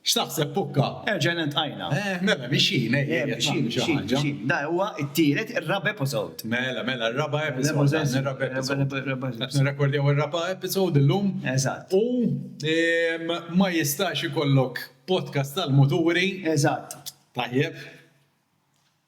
X'taħseb Pukka? Erġajna iltqajna. Eh, mela, mixjin, ejja, ejja, qed nagħmlu xi ħaġa. Dan huwa t-tielet, ir-raba' episode. Mela, mela, r-raba' episode, dan ir-raba' episode. Qed nirrekordjaw ir-raba' episode illum. Eżatt. U ma jistax ikollok podcast tal-muturi. Eżatt. Tajjeb.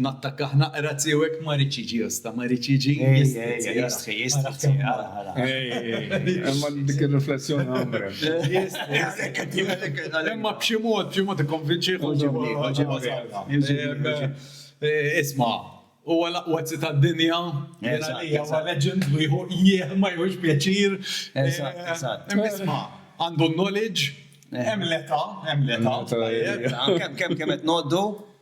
nattakkah naqra tiegħu hekk ma ridx jiġi osta, ma ridx jiġi jistrizzi. Imma dik ir-riflessjoni għamre. Imma b'xi mod, b'xi mod ikkonvinċih u ġibni. Isma', huwa l-aqwa zi tad-dinja. Huwa legend u jieħu jieħ ma jieħux pjaċir. Imma isma', għandu l-knowledge, hemm l-età, hemm l-età. Kemm kemm qed ngħoddu?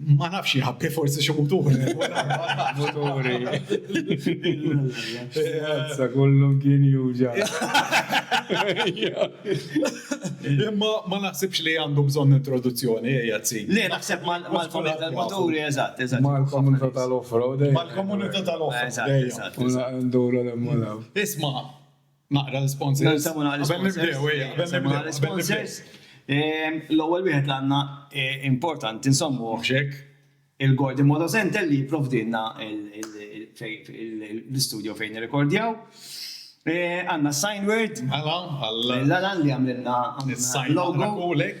Ma nafx jħabbi forsi xi muturi. Muturi. Sa kollu kien juġa. Imma ma naħsibx li għandu bżonn introduzzjoni jazzi. Le naħseb mal-komunità tal-muturi eżatt, eżatt. Mal-komunità tal-offroad. Mal-komunità tal-offroad. Eżatt, eżatt. Nduru l-emmolaw. Isma', Naqra l-sponsors. Nsemmu naqra l-sponsors. Qabel nibdew, ejja, qabel nibdew. Naqra l-sponsors. L-ewwel wieħed li għandna importanti nsemmu hekk il-Gordy Moto Center li jipprovdilna l-istudio fejn nirrekordjaw. Għandna Signword. Mela, għal. L-Alan li għamlilna. Is-Signword. L-logo. Għamilna kulek.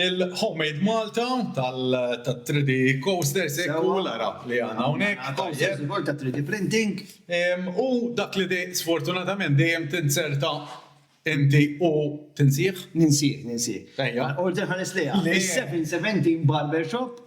Il-Homemade Malta tat-3D Coasters, ekku l-għaraq li għandna hawnhekk. Għandna coasters ukoll ta' 3D printing. U dak li sfortunatament dejjem tinzerta inti u tinsih? Ninsih, ninsih. Ejja. Għal-qorti nħares lejha. Le! Is-717 Barbershop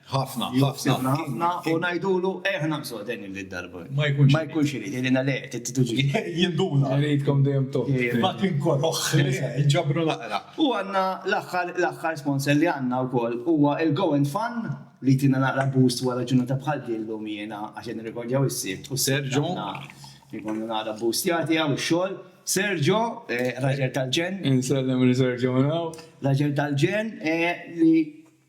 Ħafna, ħafna, ħafna, u ngħidulu eħna msoqten il darba. Ma jkunx. Ma jkunx irid, jgħidilna le, tittuġi. Jinduna. Jridkom dejjem top. Ma kien koroħ, ġabru naqra. U għandna l-aħħar, l-aħħar sponsor li għandna wkoll huwa il-Go and Fun li tina naqra boost wara ġurnata bħal din llum jiena għax qed nirrekordjaw is-sibt u Serġo jkunu naqra boost jagħti hawn ix-xogħol. Serġo, raġel tal-ġen. Insellem li Serġo naw. Raġel tal-ġen li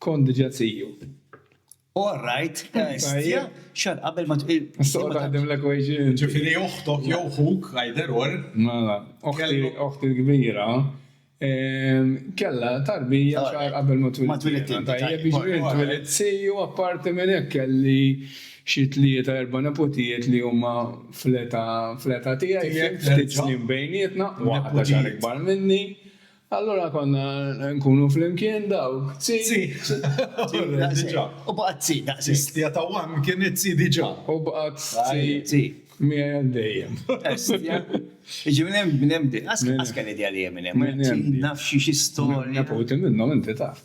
Kont diġà ziju. All right, hestia, xahar qabel ma tqil. Issa qgħod aħdem l-equation inti. Ġifieri oħtok jew ħuk, either or. Mela, oħti l-kbira kellha tarbija xahar qabel ma twilit. Ma twilit int. Tajjeb, jiġifieri int twilit ziju, apparti minn hekk kelli xi tlieta erba' nepotijiet li huma fl-età tiegħi, ftit snin bejnietna, waħda xahar ikbar minni. Allura konna nkunu flimkien dawk, tzi. Tzi. Diġà. U baqgħet tzi daqshekk. Histja ta' one kienet tzi diġà. U baqgħet tzi. Tzi. Miegħi għal dejjem. Histja. Jiġi minn hemm, minn hemm bdiet. Qass kemm idea li hemm minn hemm. Minn hemm. Nafx xi storja. Neputi minnhom inti taf.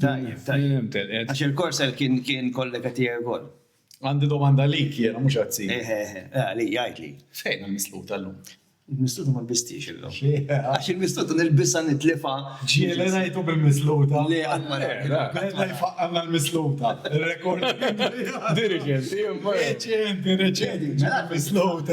Tajjeb, tajjeb. Għax il-Korsel kien kollega tiegħi wkoll. Għandi domanda għalik jiena, mhux għat-tim. Eħe, eħe. Għalija, għidli. Fejn il-misluta llum? Il-misluta ma lbistiex illum. Għax il-misluta nilbisha nitlifha. Ġieli ngħidu bil-misluta. Le, qatt ma ngħidu. Beda jfaqqalna l-misluta. Il-rekord. Dirigenti, imma. Reċenti, reċenti. Misluta.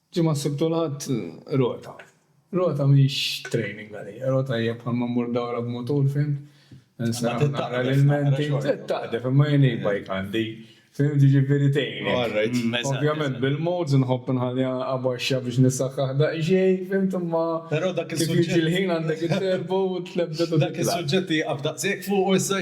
Ġimgħa s-Sibt u l-Ħadd rota. Rota mhix training għalija, rota hija bħal ma mmur dawra b'mutur, fimt? Insarraf naqra l-ilmenti, tittaqdef imma jien e-bike għandi, fimt, jiġifieri tgħinek. Ovvjament bil-modes nħobb nħalliha abaxxa biex nissaħħaħ daqsxejn, fimt, imma kif jiġi l-ħin għandek it-turbo u tlebbed u titla'. Dak is-suġġett ieqaf daqshekk fuqu issa.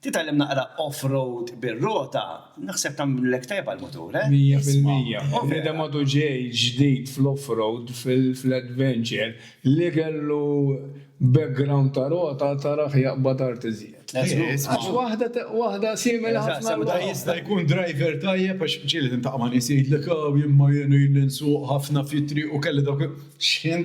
Titgħallem naqra off-road bir-rota, naħseb tagħmlilek tajjeb għall-mutur, eh? Mija fil-mija. U bniedem għadu ġej ġdid fl-off-road, fl-adventure, li kellu background ta' rota tarah jaqbad art iżjed. Għax waħda waħda simili ħafna l-oħra. Huwa jista' jkun driver tajjeb għax ġieli tiltaqa' ma' nies jgħidlek, Aw, jien ma jgħinuli li nsuq ħafna fit-triq u kelli dawk. X'ħin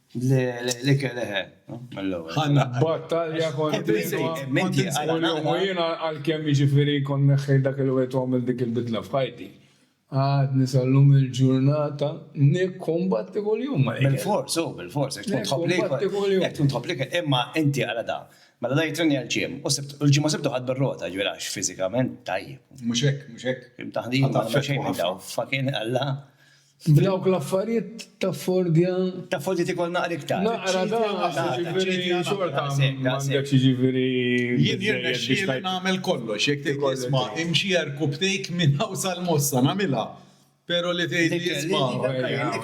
L-ikel eħe, mill-ewwel. Ħanna battalja kontinwa. Menti għalina. U jiena għalkemm jiġifieri kont neħħejt dak il-wied u għamilt dik il-bidla f'ħajti, għadni sal-lum il-ġurnata nikkumbatti kuljum mal-ikel. Bilfors, hu, bilfors, għax tkun tħobb l-ikel. Nikkumbatti kuljum. Jekk tkun tħobb l-ikel, imma inti għala da. Mela da jittrenja għall-gym u l-ġimgħa u Sibt hu ħadd bir-rota, jiġifieri għax fiżikament tajjeb. Mhux hekk, mhux hekk. Taħdita, xejn minn dawn. Fucking Alla. F'dawk l-affarijiet taffordja. Taffordja tikol naqra iktar. Naqra daqs, jiġifieri xorta m'għandekx jiġifieri biżżejjed biex. Jien jirnexxieli nagħmel kollox, jekk tgħid li isma' imxija rkub take minn hawn sal-Mossa nagħmilha, pero li tgħidli isma'.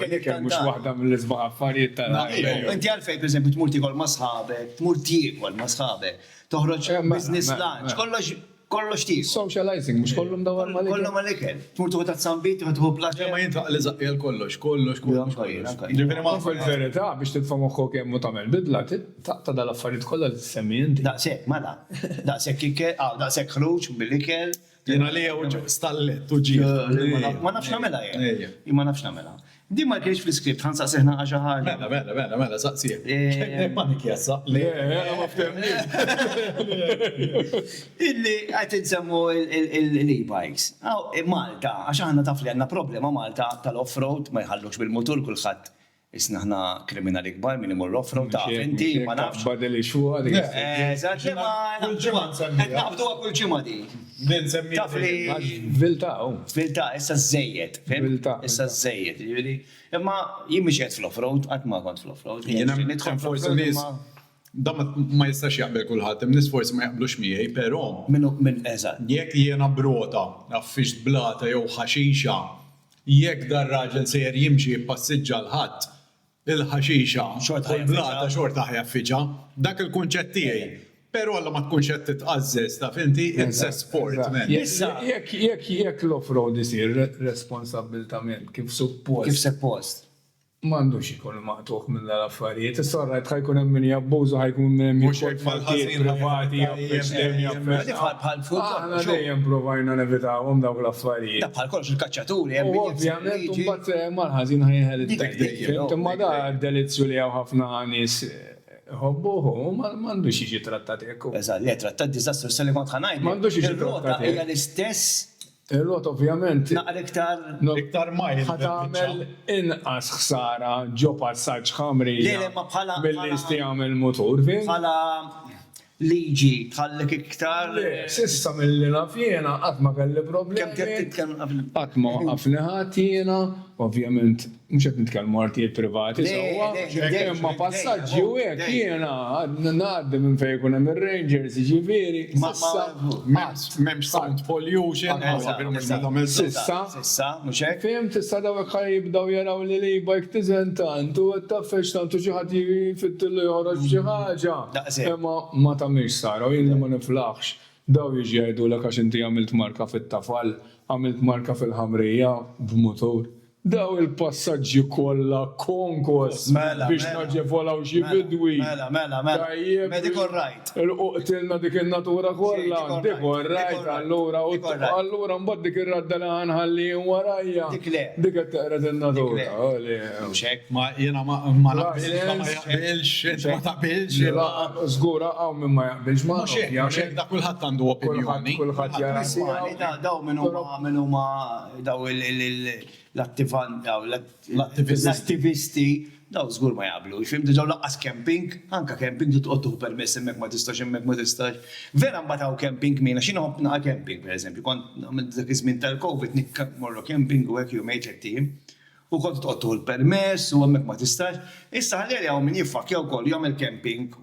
Ikel mhux waħda mill-isbaħ affarijiet tal-ħajja. Inti għalfejn pereżempju tmur tiekol ma' sħabek, tmur tiekol ma' sħabek, toħroġ business lunch, kollox. Kollox tiegħu. Socializing, mhux kollu mdawwar mal-ikel? Kollu mal-ikel. Tmur tieħu tazza għanbit, tieħu tieħu blater. Le ma jien taqli żaqqi għal kollox, kollox, kollox, kollox. Ġifieri ma nfhimx. Fil-verità biex titfa' moħħok hemm u tagħmel bidla taqta' dal-affarijiet kollha li tissemmi inti. Daqshekk, mela. Daqshekk ikel, hawn daqshekk ħruġ bil-ikel. Jien għalija stallet u ġiegħ. Ma nafx nagħmilha jien. Jien ma nafx nagħmilha. Din ma kienx fl-iskript, ħa nsaqsih nagħqa xi ħaġa. Mela, mela, mela, mela, saqsih. Panik jassa. Le, ma ftemniex. Illi qed insemmu l-e-bikes. Malta, għax aħna taf li għandna problema Malta tal-off-road, ma jħallux bil-mutur kulħadd isna aħna kriminali kbar min imur off-road taf inti, ma nafx. Badel ix-xogħol. Eżatt, imma. Kull ġimgħa nsemmiha. Qed naqbduha kull ġimgħa din. Taf li. Viltà hu. Viltà, issa żżejjed, fimt? Viltà. Issa żżejjed, jiġifieri. Imma jien mhix qiegħed fl-offroad, qatt ma kont fl-offroad. Jien hemm forsi nies, dan ma jistax jaqbel kulħadd, hemm nies forsi ma jaqblux miegħi, però. Min hu, min, eżatt. Jekk jiena b'rota, għaffixt blata jew ħaxixa, jekk dar-raġel sejjer jimxi jippassiġġa 'l ħadd, Il-ħaxixa u l-blata xorta ħjaffiġa. Dak il-kunċett tiegħi. Pero alla ma tkunx qed titqażżeż, taf inti, it's a sport, man. Issa, jekk l-off-road isir responsabbiltament kif suppost. Kif seppost. M'għandux ikun maqtugħ minn dal-affarijiet. Issa all right, ħa jkun hemm min jabbuża u ħa jkun minn hemm jieħu l-partijiet privati jew biex dejjem jaffettwa. Aħna dejjem provajna nevitawhom dawk l-affarijiet. Dak bħal kollox, il-kaċċa. U ovvjament imbagħad fehemha l-ħażin ħa jeħel it-tajjeb. Fihimt? Imma da d-delizzju li hawn ħafna nies iħobbuh u ma għandux jiġi trattat hekk u. Eżatt, le, trattat diżastru s-sa li kont ħa ngħidlek. Ma għandux jiġi trattat hekk. Ir-rota hija l-istess. Ir-rota ovvjament. Naqra iktar. Iktar mild. Ħa tagħmel inqas ħsara ġo passaġġ ħamrija. Le, le, imma bħala. Milli jistgħu jagħmel mutur, fihimt? Bħala. liġi tħallek iktar. Le, s'issa milli naf jiena qatt ma kelli problemi. Kemm tgħid titkellem qabel. Qatt ma waqqafni ħadd jiena, ovvjament mhux qed nitkellmu artijiet privati sewwa, imma passaġġi u hekk jiena ngħaddi minn fejn ikun hemm ir-rangers jiġifieri s'issa qatt. M'hemmx sound pollution, eżatt. S'issa. issa, mhux hekk? Fhimt, issa dawk ħa jibdew jaraw li l-e-bike tiżen tant u qed tgħaffeġ tant u xi ħadd jiġi jfittillu joħroġ b'xi ħaġa. Daqshekk. Imma ma tagħmilx sara u jien li ma niflaħx, daw jiġu jgħidulek għax inti għamilt marka fit-tafal, għamilt marka fil-ħamrija b'mutur. Daw il-passaġġi kollha konkos biex naġevolaw xi bidwi. Mela, mela, mela, mela. Tajjeb. Medical right. Ilqu qtilna dik in-natura kollha, dik hu r-rgħid allura u t-togħ allura mbagħad dik ir-radda li ħa nħalli jien warajja, dik qed teqred in-natura. Mhux hekk, ma jiena ma naqbilx, int ma taqbilx. Żgur hawn min ma jaqbilx ma. Mhux hekk, mhux hekk, da kulħadd għandu opinjoni. Kulħadd jara s-sewwa. Dawn min huma, dawn huma dawn l-attivanti, dawn. L-attivisti dawn żgur ma jaqblux, fim, diġa' u lanqas camping, anka camping trid toqgħod tieħu permess hemmhekk ma tistax hemmhekk ma tistax. Vera mbagħad hawn camping min, għax jien ħobb nagħha camping per eżempju, kont għamilt dak iż-żmien tal-Covid nikkamp morru camping u hekk jumejn tlett ijiem, u kont trid toqgħod tieħu l-permess u hemmhekk ma tistax. Issa ħalli għalih hawn min jiffakkja wkoll u jagħmel camping.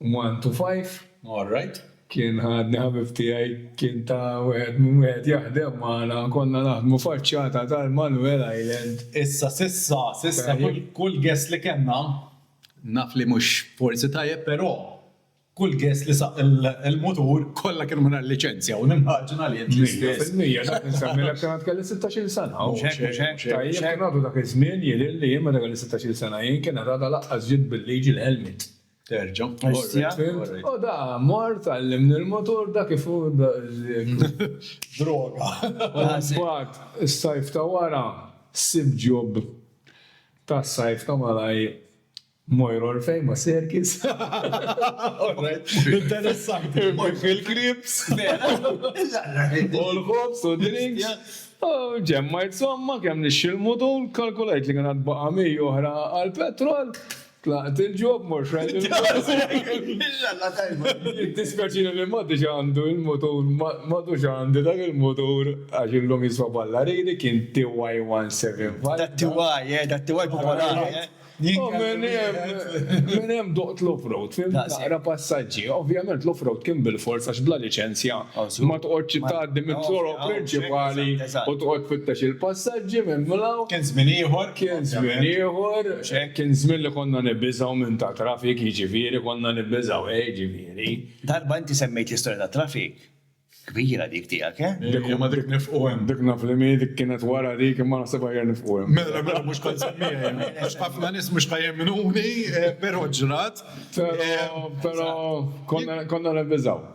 One to five, all right. Kien ħadni ħabib tiegħi, kien ta' wieħed minn wieħed jaħdem magħna, konna naħdmu faċċata tal-Manuel Island. Issa, s'issa, s'issa kull, kull guest li kellna, naf li mhux forsi tajjeb però, kull guest li saq il, il-mutur kollha kienu mingħajr liċenzja u nimmaġina li int l-istess. Mija fil-mija, dak insemmilek kien għad kelli sittax-il sena. Mhux hekk, mhux hekk, mhux hekk. Tajjeb, kien għadu dak iż-żmien, jidhirli jien meta kelli sittax-il sena jien kien għad għadha laqqas ġiet bil-liġi l-helmet. Terġa'. O da, mort, għallimni l-motur, da kif hu droga. Mbagħad is-sajf ta' wara sibt job tas-sajf ta' malaj Mojra Orfejma Circus. Interessant. Fil-Kriebs. U l-ħobż u drinks. U ġemmajt somma kemm nixxi l-motur, kalkulajt li kien għad baqa' 100 oħra għall-petrol, Tlaqt il-ġob mor xrajt il-motor. Dispjaċina li matti xandu il-motor, madu xandi dak il-motor, għax illum jiswa balla ridi kien TY 175. Da TY, eh, da TY popolari, eh. U minn hemm, minn hemm doqt l-offroad, fim, naqra passaġġi. Ovvjament l-offroad kien bil-fors għax bla liċenzja ma toqgħodx tgħaddi mit-toroq prinċipali u toqgħod tfittex il-passaġġi minn mlaw. Kien żmien ieħor. Kien żmien ieħor. Kien żmien li konna nibbiżgħu minn ta' traffic, jiġifieri konna nibbiżgħu, eh, jiġifieri. Darba inti semmejt l-istorja ta' traffic. Kbira dik tiegħek, eh? Dik li ma trid nifqu hemm. Dik naf li mi, dik kienet wara dik imma naħseb aħjar nifqu hemm. Mela, mela mhux kont semmiha jien, għax ħafna nies mhux ħa jemnuni, però ġrat. Però, però konna nibbiżgħu.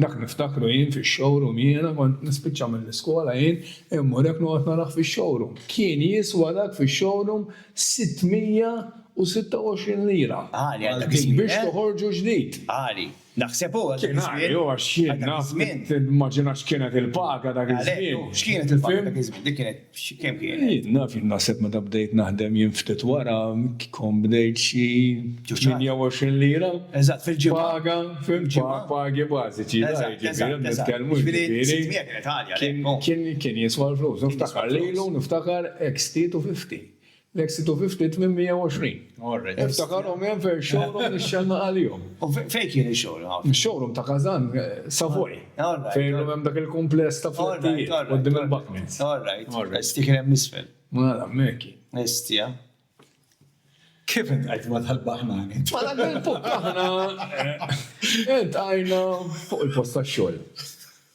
Dak niftakru jien fix-showroom jiena kont nispiċċa mill-iskola jien immur hekk noqgħod narah fix-showroom. Kien jiswa dak fix-showroom 626 lira. Għali għal dak iż-żmien, eh? Biex toħorġu ġdid. Għali. Naħseb hu għal dak iż-żmien. Kien għali hu għax jien naf, timmaġina x'kienet il-paga dak iż-żmien. Għalhekk hu, x'kienet il-paga dak iż-żmien? Dik kienet. Kemm kienet? Jien naf, jien naħseb meta bdejt naħdem jien ftit wara kont bdejt xi 28 lira. Eżatt, fil-ġimgħa. Paga, fimx, pagi bażiċi. Eżatt, eżatt. Nitkellmu jiġifieri. Ġifieri 600 kienet għalja. Kien jiswa l-flus. Niftakar lilu, niftakar eks titu fifti. L-Eksitu fi ftit minn 120. Niftakarhom hemm fejn showroom nixxennaq għalihom. U fejn kien ix-showroom? Ix-showroom ta' Kazan, Savoy. Fejn illum hemm dak il-kumpless ta' flettijiet quddiem il-Buckmans. All right, all right. Sti kien hemm isfel. Mela, hemmhekk kien. Esti, ha? Kif intqajt ma' dal-baħnan int? Mela kien fuq aħna intqajna fuq il-post tax-xogħol.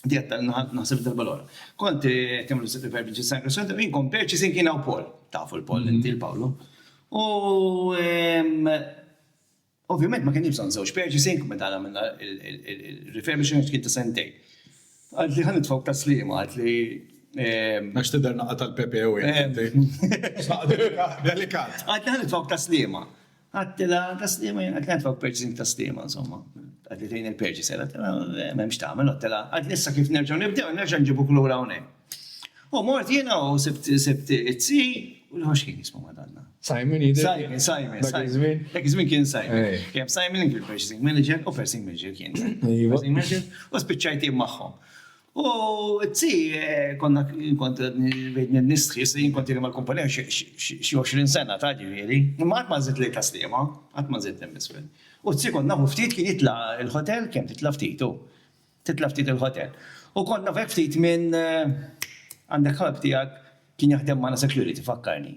Dietta, naħseb darba l-għora. Kont eh, kemmlu s-sibbi per bieġi San Kristjan, ta' minkom perċi sin kien għaw Paul, tafu l-Paul, mm-hmm. inti l-Pawlu. U ovvijament ma kien jibżon zewġ perċi sin kum meta għamilna il-refurbishment kien ta' sentej. Għad li ħan tfawk ta' slima, għad li Għax t-der naqqa tal-PPO jgħid. Delikat. Għad li ħan tfawk ta' slima. Għadtilha ta' Sliema jiena kien għad purchasing ta' Sliema insomma. Għadli tgħin il-purchaser, għadtilha m'hemm x'tagħmel, għadtilha għadli issa kif nerġgħu nibdew, nerġa' nġibuk lura hawnhekk. U mort jiena u sibt sibt it-zii u l-ieħor x'kien jismu Madanna? Simon jidher. Simon, Simon. Dak iż-żmien. Dak iż-żmien kien Simon. Kien Simon li kien purchasing manager u first thing manager kien. First thing manager u spiċċajt jien magħhom. U t-tzi, konna kont bejn nistħi, se jinkont jiri mal-kumpanija xi 20 sena ta' ġifieri, imma qatt ma żidt lejn taslima, qatt ma żidt hemm isfel. U t-tzi kont nafu ftit kien jitla' l-ħotel, kemm titla' ftit hu. Titla' ftit il-ħotel. U kont nafek ftit minn għandek ħabib tiegħek kien jaħdem magħna security, fakkarni.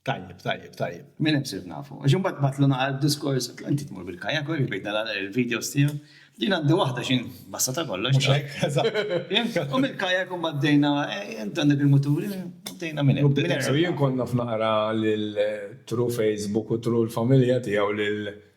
Tajjeb, tajjeb, tajjeb. Minn hemm sirt nafu. Għax imbagħad bagħatlu naqra d-diskors, għedtlu inti tmur bil-kayak, uri bejtna nara l-videos tiegħu. Din għandi waħda xi nbassa ta' kollox. Mhux hekk? Eżatt. U mill-kayak imbagħad bdejna, inti għandek il-mutur, bdejna minn hemm. Bdejna. Jien kont naf naqra lil through Facebook u through l-familja tiegħu lil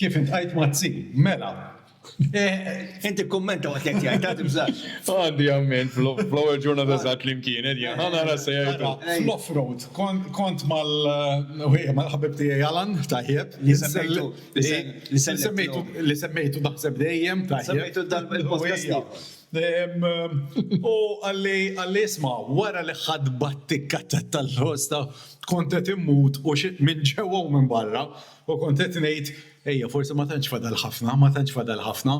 Kif intqajt Mazzi? Mela! Int ikkummenta waqt li qed jgħid, ara tibżax. Għandi amment fl-ewwel ġurnata eżatt li mkienet jien, ħa nara se jgħidu. Fl-offroad kont mal-ħabib tiegħi Alan, tajjeb, li semmejtu li semmejtu li semmejtu naħseb dejjem, tajjeb. Semmejtu dal-podcast ieħor. U qalli qalli isma' wara li ħadt battikka tat-tal-ħosta kont qed immut u minn ġewwa u minn barra. U kont qed ngħid, 'Ejja, forsi ma tantx fadal ħafna, ma tantx fadal ħafna.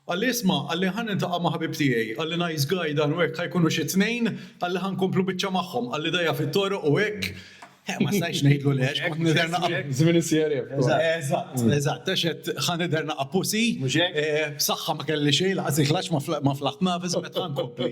Qalli, 'Isma', qalli, 'ħa niltaqa' ma' ħabib tiegħi, qalli, 'nice guy dan u hekk, ħa jkunu xi tnejn, qalli, 'ħa nkomplu biċċa magħhom, qalli, 'dgħajja fit-toroq u hekk. Eħe, ma stajtx ngħidlu le għax kont nidher naqa'. Żmien is-CRF. Eżatt, eżatt, għax qed, ħa nidher naqa' pussy. Mhux hekk? Saħħa ma kelli xejn, lanqas il-klaxx ma flaħt nagħfes u qed, 'ħa nkompli.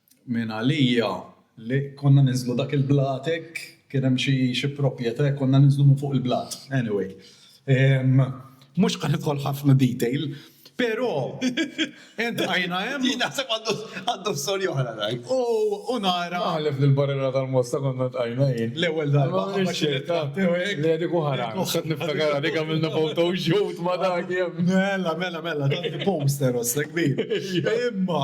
Minn għalija li konna ninżlu dak il-blat hekk, kien hemm xi xi propjetà hekk konna ninżlu minn fuq il-blat. Anyway. Mhux ħa nidħol ħafna detail, però entqajna hemm. Jien naħseb għandu għandu storja oħra dan. U u nara. Naħlef li l-Barriera tal-Mosta konna ntqajna jien. L-ewwel darba ħabba xi ritratt tiegħu hekk. Le dik oħra. X'qed niftakar għalik għamilna photo shoot ma' dak hemm. Mela, mela, mela, tant poster ossek kbir. Imma.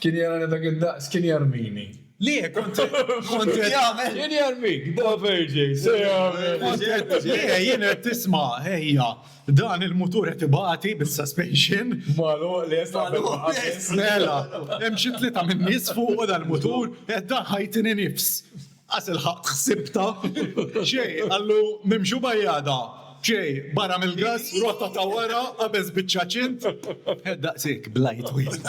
Kien jarani dak id-daqs, kien jarmini. Le, kont qed jagħmel. Kien jarmik, da verġej, se jagħmel. Kont qed, le, jien qed tisma', ejja, dan il-mutur qed ibati bis-suspension. Magħluq lest qabel ma qabel. Mela, hemm xi tlieta min-nies fuqu dal-mutur, qed dan ħajtini nifs. Qas ilħaqt ħsibtha. Xejn, qallu, m'hemmx u bajjadha. Xejn, barra mill-gass, rotta ta' wara, qabeż biċ-ċaċint. Daqshekk blajt wieħed.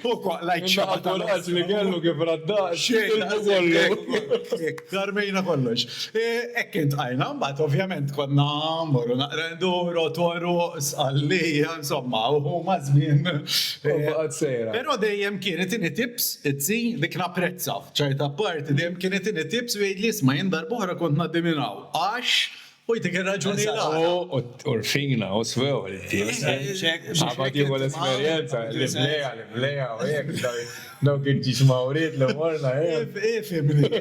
U kwaqlajt xaħta. Naħa kuraġġ li kellu kif raddha. Xejn, tilfu kollu. Karmejna kollox. Hekk iltqajna, mbagħad ovvjament konna mmorru naqra nduru, Toroq, Sqallija, insomma, u huma żmien. U baqgħet sejra. Però dejjem kien itini tips, it-zin, dik napprezza. Ċajt apparti, dejjem kien itini tips u jgħidli isma' jien darb'oħra kont ngħaddi minn hawn għax u jtik ir-raġuni l-għala. U rfina u swew il-tips. Qabad jieħu l-esperjenza, l-imlejja, l-imlejja u hekk, dawk il-ġiġmawriet li morna hemm. Ifhimni.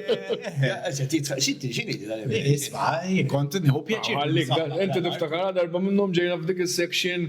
X'inhi dan l-imlejja? Isma' kont nieħu pjaċir. Inti tiftakar darba minnhom ġejna f'dik is-section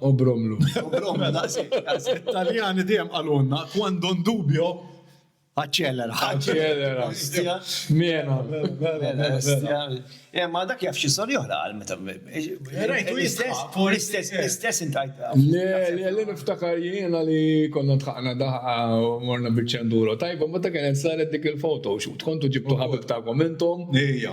Obromlu. Obromlu, daqsik, daqsik. Taljani dejjem għalunna, quando un dubio, Aċċelera. Aċċelera. Mena. Eh, ma dak jaf xi soli oħra għal meta. Rajtu l-istess intajt. Le, le, le niftakar jiena li konna tħaqna daħqa u morna biċċenduro. Tajba, ma ta' kienet saret dik il-foto, xut kontu ġibtu ħabib ta' komentom. Ija.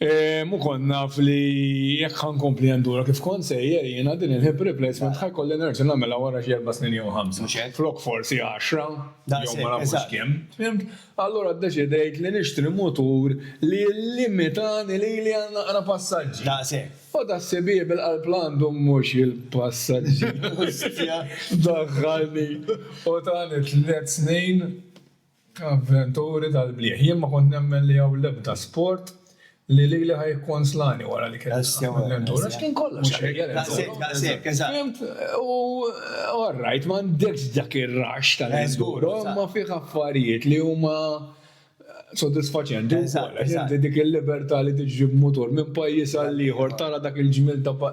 Mu kont naf li jekk ħa nkompli endura kif kont sejjer jiena din il-hip replacement ħa jkolli nerġa' nagħmilha wara xi erba' snin jew ħamsa. Flok forsi għaxra jew ma nafux kemm. Fhimt? Allura ddeċidejt li nixtri mutur li jillimitani lili għal naqra passaġġi. Daqshekk. U das-sibieb il-qalb l-għandhom mhux il-passaġġi. Ustja! Daħħalni u tani tliet snin Avventuri tal-blieh. Jien ma kont nemmen li hawn l-ebda sport li lili ħa jikkonslani wara li kelli naqgħad mill-lentura għax kien kollox ħajja l-enduro. Fimt? U all right, m'għandekx dak ir-rush tal-enduro imma fih affarijiet li huma sodisfaċenti wkoll għax inti dik il-libertà li tiġri b'mutur minn pajjiż għall-ieħor tara dak il-ġmiel ta'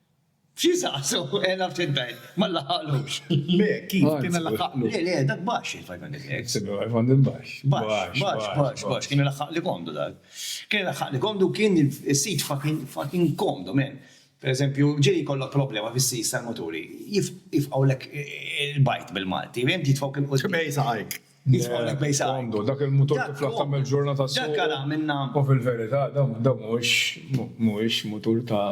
Xi jsaqsu? Eh, naf xi tgħid, ma laħaqlux. Le, kif, kienu laħaqlu. Le, le, dak baxx il-500 hertz. Sibna l-iPhone il-baxx. Baxx, baxx, baxx, baxx, kien ilaħħaqli komdu dak. Kien ilaħħaqli komdu u kien is-sit fucking, fucking komdu, man. Per eżempju, ġej jkollok problema fis-sijs tal-muturi, jifqgħulek il-bajt bil-Malti, fhimt, jitfgħuk 'il quddiem. Bejn saqajk. Jitfgħulek bejn saqajk. Komdu, dak il-mutur tiflaħ tagħmel ġurnata s-suq. Dak ara minna. U fil-verità, dan mhuwiex, mhuwiex mutur ta'.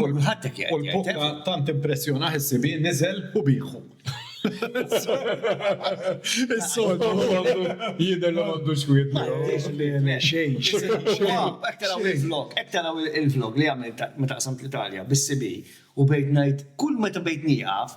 U l-bukka tant impressjona ħsibi niżel u bieħu. Is-soltu jidher li m'għandux xwied. Xejn, xejn. Hekk taraw il-vlog, hekk taraw il-vlog li għamilt meta qsamt l-Italja bis-CB u bdejt ngħid kull meta bdejt nieqaf,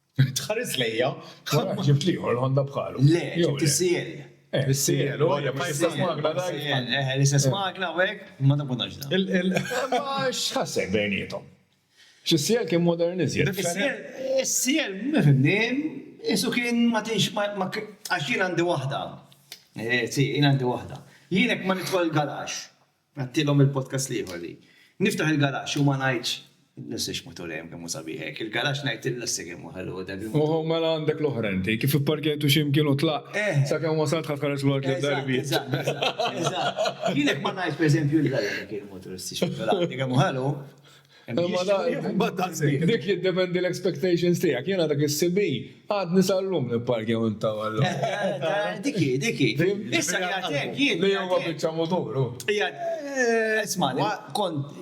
Tħares lejja. Wara ġibt l-ieħor, il-Honda bħalu. Le, ġibt is-CL. Eh, is-CL, u hija l-istess magna dak. Eh, l-istess magna u hekk, ma nafux dan. Imma x'ħassejt bejniethom? X'is-CL kien modern iżjed. Is-CL, ma fhimtnix, qisu kien ma tinx ma għax jien għandi waħda. Eh, si, jien għandi waħda. Jien hekk ma nidħol il-garaxx. Għadtilhom il-podcast l-ieħor li, Niftaħ il-garaxx u ma ngħidx, L-lessiex mutur hemm kemm hu sabiħ hekk, il-garaxx ngħid il-lessiex kemm hu ħelu dan il-mutur. Oħo, mela għandek l-oħra inti, kif ipparkjajtu xi mkien u tlaqt, sakemm wasalt ħadd ħares wara tliet darbiet. Eżatt, eżatt, eżatt. Jien hekk ma ngħidx pereżempju, L-lessiex mutur issiex mutur għandi kemm hu ħelu. Dik jiddependi l-expectations tiegħek. Jiena dak is-CB għadni sal-lum nipparkja minn ta' għallu. Diki, diki. Issa jgħatek jien. Li huwa biċċa muturu. Isma, kont.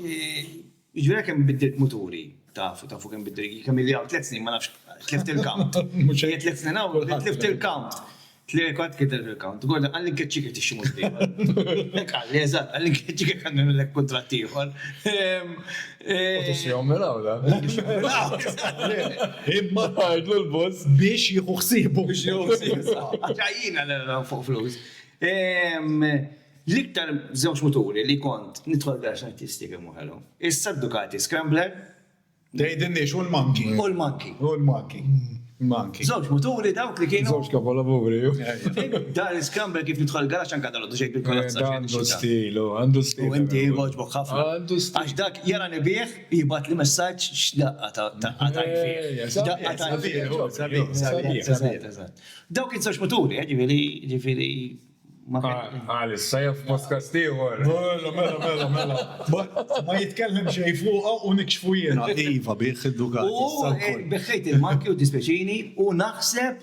Ġviri kemm biddilt muturi. Taf, taf u kemm biddilt. Kemm il-li għaw tlet snin ma nafx tlift il-count. Mux għajet tlet snin għaw, tlift il-count. Tlier kont kiteb il-count. Gordon, għalli nkeċċik li tixtri mod ieħor. Hekk qalli, eżatt, għalli nkeċċik jekk għandna nagħmlilek kuntratt ieħor. Ehm, eh, U tixtrihom minn hawn, la? Imma tgħidlu l-boss biex jieħu ħsiebu. Biex jgħu Għaxajjina l-għan fuq flus. Ehm, L-iktar żewġ muturi li kont nidħol biex artisti kemm uħelu. Issa Ducati Scrambler, Tgħidilni x'hu l-Manki? Hu l-Manki. Hu l-Manki. Manki. Żewġ muturi dawk li kienu. Żewġ kapolavuri. Dar l-iskramber kif nidħol garax anke dalgħodu xejn bil-kolazza. Għandu stil, għandu stil. U inti jogħġbok ħafna. Għandu stil. Għax dak jara nibih jibgħat li messaġġ x'daqqa ta' daqqa ta' jfih. Daqqa ta' jfih. Dawk iż-żewġ muturi, ġifieri, ġifieri. Għal issa jew f'podkast ieħor. Mela, mela, mela, mela. Ma jitkellem xejn fuqha u nikxfu jiena. Iva, bih iddukat issa wkoll. U beħħejt il-marki u dispjaċini u naħseb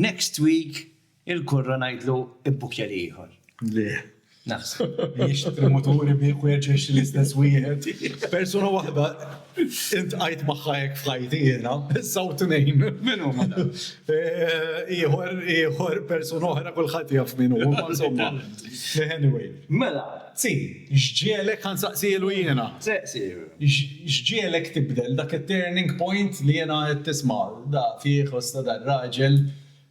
next week il-kurra ngħidlu ibbukkja li ieħor. Le. Naħseb. Jixtri muturi bih u jerġa' jixtri l-istess wieħed. Persuna waħda. Iltqajt magħha hekk f'ħajti jiena, issa u tnejn. Min huma dawn? Ieħor, ieħor, persuna oħra kulħadd jaf min hu, imma insomma. Anyway. Mela, C, x'ġiegħlek, ħa nsaqsielu jiena. Se, C. X'ġiegħlek tibdel dak it-turning point li jiena għedt tisma' da fih u sta dan raġel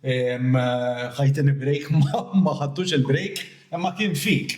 ħa jtini break ma ħadtux il-break imma kien fik.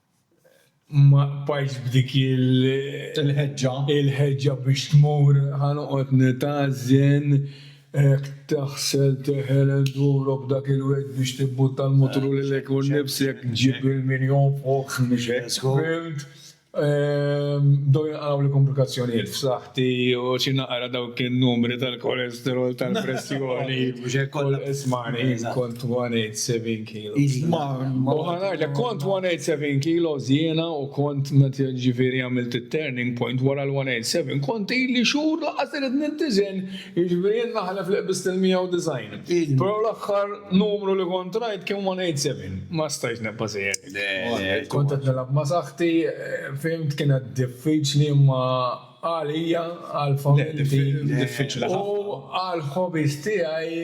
ma bqajtx b'dik il-ħeġġa il-ħeġġa biex tmur ħa noqgħod nitgħażżen hekk taħsel teħel enduro b'dak il-wied biex tibbutta l-mutru lilek u nnifsek ġġib il-mirjon fuq fil-wied. Bdew jinqalgħuli kumplikazzjonijiet f'saħħti u xi naqra dawk in-numri tal-kolesterol tal-pressjoni. Mhux hekk kollha b'tismagħni. Kont 187. kilos. U ħanajlek, kont 187 kilos jiena u kont meta ġifieri għamilt it-turning point wara l-187, kont ili xhur laqqas irid nintiżen, jiġifieri jien naħlef li qbiżt il-190. Però l-aħħar numru li kont rajt kien 187. Ma stajtx nibqa' sejjer hekk. Le, le. Kont qed nilgħab ma' saħħti, fhimt, kienet diffiċli imma għalija, għall-familti. Le, diffiċli ħafna. U għall-hobbies tiegħi.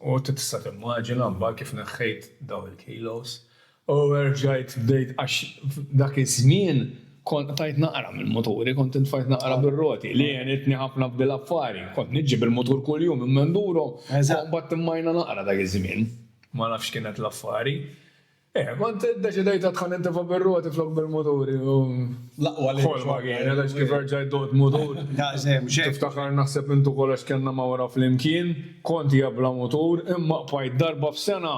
U inti tista' timmaġina mbagħad kif neħħejt dawn il-kilos u erġajt bdejt għax f'dak iż-żmien kont qtajt naqra mill-muturi, kont intfajt naqra bir-roti li għenitni ħafna f'dil affari. Kont niġġi bil-mutur kuljum minn Menduro u mbagħad timmajna naqra dak iż-żmien. Ma nafx x'kienet l-affari. Eh, kont iddeċidejt għad ħa nintefa' bir-roti flok bil-muturi u. L-aqwa li. Ħolma kienet għax kif erġajt duqt mutur. Daqshekk xejn. Tiftakar naħseb int ukoll għax kellna mawra flimkien, kont hija bla mutur, imma qbajt darba f'sena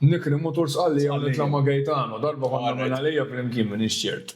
nikri mutur Sqallija u nitla' ma' Gaetano, darba konna minn Għalija flimkien m'iniex ċert.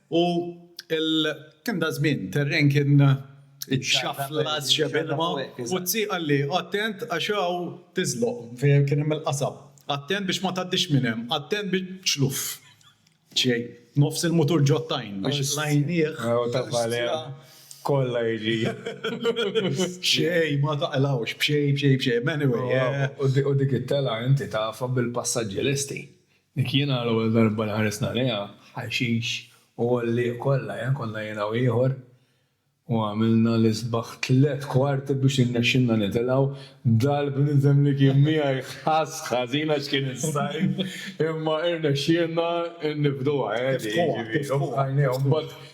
U kien dak żmien, terren kien ixxaflas xebh ilma, u t-zzi qalli, Attent għax hawn tiżloq, fejn kien hemm il-qasab. Attent biex ma tgħaddix minn hemm, attent biex, xluf. Xejn. Nofs il-mutur ġo t-tajn biex qlajnieh. U ta' Valea kollha jiġi. B'xejn ma taqlgħux, b'xejn, b'xejn, b'xejn. Anyway. U dik it-telgħa inti tafha bil-passaġġi lesti. Dik jiena l-ewwel darba li ħarist għaliha, ħaxix u għollieq kollha, eh, konna jiena u ieħor u għamilna l-isbaħ tliet kwarti biex irnexxilna nitilgħu, dal-bniedem li kien miegħi ħass ħażin għax kien is-sajf imma irnexxielna nifduha, eh, li jiġifieri u bqajna u mbagħad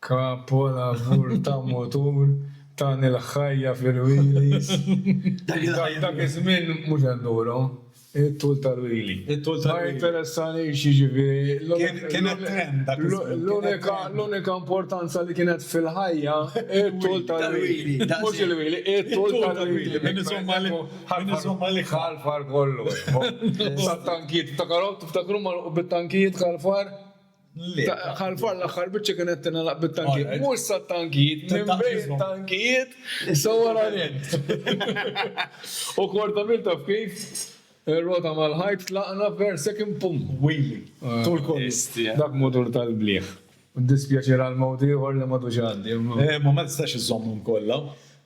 Kapolavur ta' mutur, tani l-ħajja fil-wheelies. Dak iż-żmien mhux enduro, it-tul tal-wheelie. Ma jinteressanix, jiġifieri, l-unika importanza li kienet fil-ħajja it-tul tal-wheelie. Mhux il-wheelie, it-tul tal-wheelie. Min iżomm għalik ħalfar kollu. Sat-tankijiet, tiftakar, tiftakru magħluq bit-tankijiet ħalfar? Ħalfan l-aħħar biċċa kienet tingħalaq bit-tankijiet. Mhux sat-tankijiet, minn bejn it-tankijiet sawranin. U korda minn taf kif, ir-rota mal-ħajt tlaqna per second pum! Wili! Tul kollu. Dak mutur tal-blieh. Dispjaċir għal mewt ieħor li m'għadux għaddi. Imma ma tistax iżżommhom kollha.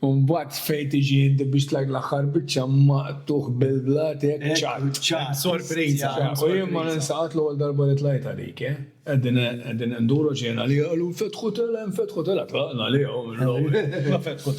U mbagħad fejn tiġi inti biex tlajk l-aħħar biċċa maqtugħ bil-blat hekk ċatt. Ċatt, sorpriża. U jien ma ninsa qatt l-ewwel darba li tlajt għalik, eh. Qegħdin induru ġejna għalija qalu nfetħu telgħa, nfetħu telgħa, tlaqna għalihom.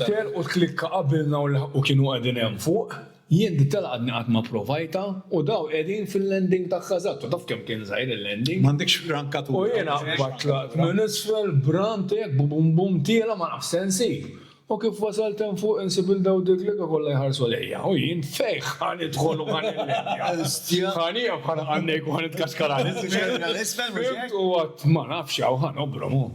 Telqu t-tlikka qabilna u laħqu kienu qegħdin hemm fuq. Jien dik tal-għadni qatt ma provajtha u daw qegħdin fil-landing ta' Casatto, taf kemm kien żgħir il-landing? M'għandekx rankatura. U jiena mbagħad tlaqt minn isfel b'run tiegħek b'bum bum tiela' ma nafx se nsib. U kif wasalt hemm fuq insib 'l daw Diglega kollha jħarsu lejja u jien fejn ħa nidħol u ħa nillendja? Ħa nieqaf ħa naqgħad ngħejk u ħa nitkaxkar għal isfel? Fimt u għadt ma nafx hawn ħa nobrom u.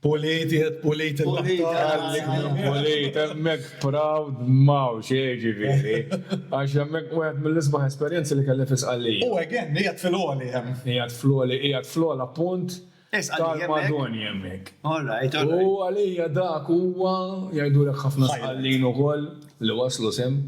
Pulit, qiegħed pulit il-baħtar. Għalli pulit, hemmhekk proud m'hawn xejn jiġifieri. Għax hemmhekk wieħed mill-isbaħ esperjenzi li kelli fi Sqallija. U again, qiegħed fil-għoli hemm. Qiegħed fl-għoli, qiegħed fl-ogħla punt tal-Madoni hemmhekk. All right, all right. U għalija dak huwa, jgħidulek ħafna Sqallin ukoll li waslu sehem.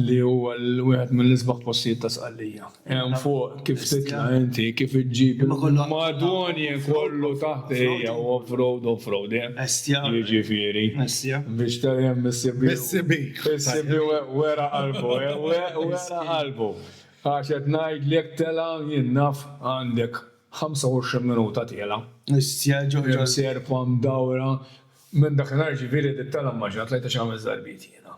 li huwa wieħed mill-isbaħ postijiet ta' Sqallija. Hemm fuq kif titla' inti, kif iġġib il-Madonje kollu taħt ejja u off-road, off-road, eh? Estja. Jiġifieri. Estja. Biex tgħid hemm is-CB. Is-CB. Is-CB wera qalbu, wera qalbu. Għax qed ngħidlek telgħa jien naf għandek 25 minuta tiela'. Estja ġo ġo. Serpa mdawra. Minn dakinhar jiġifieri dik telgħa immaġina tlajtha xi ħames darbiet jiena.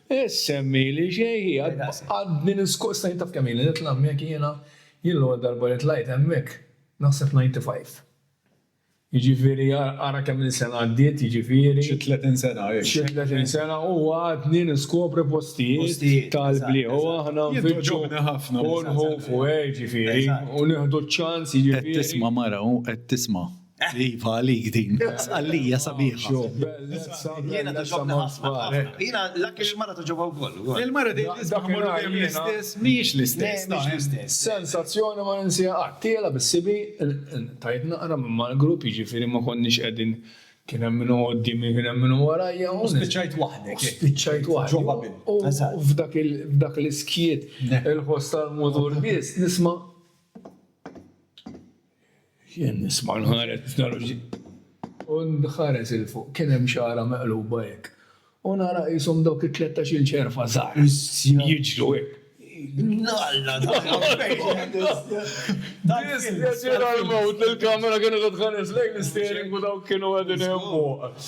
Issemmili xejhi, għadni niskuża, taf kemm ili nitla' hemmhekk jiena? Jien l-ewwel darba li tlajt hemmhekk, naħseb f'ninety five. Jiġifieri ara kemm-il sena għaddiet, jiġifieri. Xi tletin sena, hi. Xi tletin sena u għadni niskopri postijiet tal-bliet u aħna nfittxu u nħufu, jiġifieri, u nieħdu ċ-ċans, jiġifieri. Qed tisma' mara u qed tisma'. Iva, għalik din. Għalija sabiħa. Jiena ta' ġobni ħafna. Jiena l-akki l-mara ta' ġobha wkoll. Il-mara din l-isbaħmur għajn l-istess, miex l-istess. Miex l-istess. Sensazzjoni ma ninsija qatt. Tiela bis-sibi, tajt naqra minn mal-grupp, jiġifieri ma konniex qegħdin kien hemm minn qoddimi, kien hemm minn warajja. U spiċċajt waħdek. Spiċċajt waħdek. Ġobha bil. U f'dak l-iskiet, il-ħoss tal-mudur biss, nisma' Jien nisma' nħares nara xi u nħares 'il fuq kien hemm xagħra meqluba hekk u nara qishom dawk it-tlettax-il ċerfa żgħar jiġru hekk. Alla Dispjaċir għall-mewt li l-kamera kienet qed tħares lejn l-isteering u dawk kienu qegħdin hemm fuq.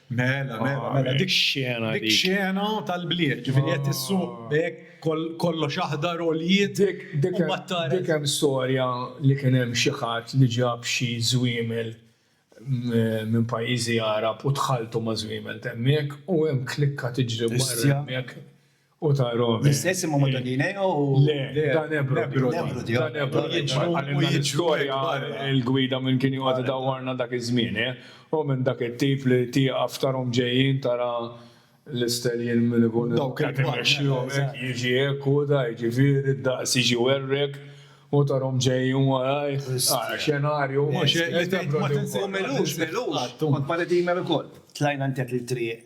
Mela, mela, ah, mela, dik xena. Dik xena tal-bliet, ġifiri qed issuq ah. bek kollox aħdar u l-jiet. Dik hemm storja li kien hemm xi ħadd li ġab xi żwiemel minn pajjiżi Arab u tħaltu ma' żwiemel temmek u hemm klikka tiġri barra hemmhekk u ta' Romi. L-istess imma ma' ta' Dineo u. Le, ta' Nebrodi. Nebrodi, ta' Nebrodi. Għallimna l-istorja, il-gwida minn kien joqgħod idawwarna dak iż-żmien, eh? U minn dak it-tip li tieqaf tarhom ġejjin tara l-isteljien min ikun qed imexxihom hekk jiġi hekk u da, jiġifieri d-daqs jiġi jwerwrek u tarhom ġejjin warajh. Ara xenarju, mhux hekk? Li Nebrodi wkoll. U Melux, Melux. Kont ma' Redeemer ukoll. Tlajna ntet il-triq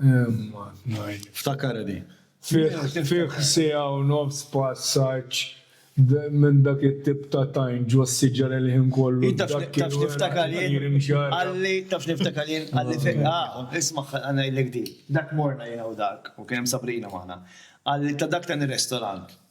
Imma tnajn. Ftakarha di. Fih siegħa u nofs passaġġ minn dak it-tip ta' tajn ġo s-siġar il-ħin kollu. Taf x'niftakar jien? Qalli, taf x'niftakar jien? Qalli fejn, ah, isma' ħa ngħidlek di. Dak morna jiena u Dark, ok, hemm Sabrina magħna. Qalli ta' dak ta' n-restorant.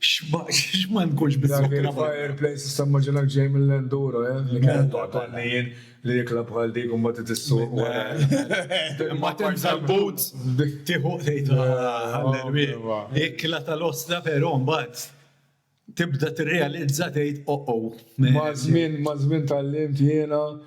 X'ma nkunx biżżejjed. Dak il-fireplace issa mmaġinak ġej mill-enduro, eh? Li kienet toqgħod għal-nien li ikla bħal dik u mbagħad trid issuq wara. Imma tibża' l-boots, tieħu tgħid għall-erwieq. Ikla tal-ostra però mbagħad tibda tirrealizza tgħid oh-oh. Maż-żmien, maż-żmien tgħallimt jiena.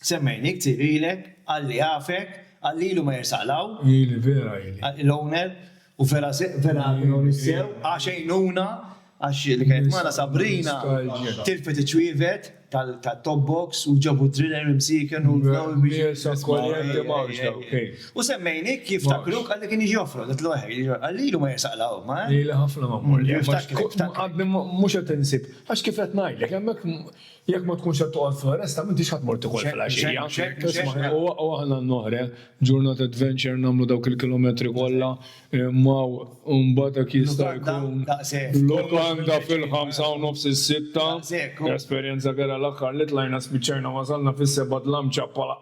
Semmejni ktieb ilek, Alla jafek, Alla ilu ma jersaq l hawn. Ili vera ili. L owner, u vera vera kien onest sew, għax għejnuna, għax li kienet magħna Sabrina tilfet iċ-ċwievet tat top box u ġabu d-driller imsieken u bdew biex. U semmejni kif jiftakruk għalli kien jiġi joffrok, għedtlu eħe, Alla ilu ma jersaq l hawn, ma eh. Ili ħafna ma mmur l hemm għax mhux qed insib, għax kif qed ngħidlek hemmhekk Jekk ma tkunx qed toqgħod fl-oresta m'intix ħa tmur tikol filgħaxija. Isma', u aħna n-nohre, ġurnata adventure nagħmlu dawk il-kilometri kollha, imma mbagħad dak jista' jkun lukanda fil-ħamsa u nofs is-sitta. Esperjenza kera l-aħħar li tlajna spiċċajna wasalna fis-sebgħa dlamċa bħala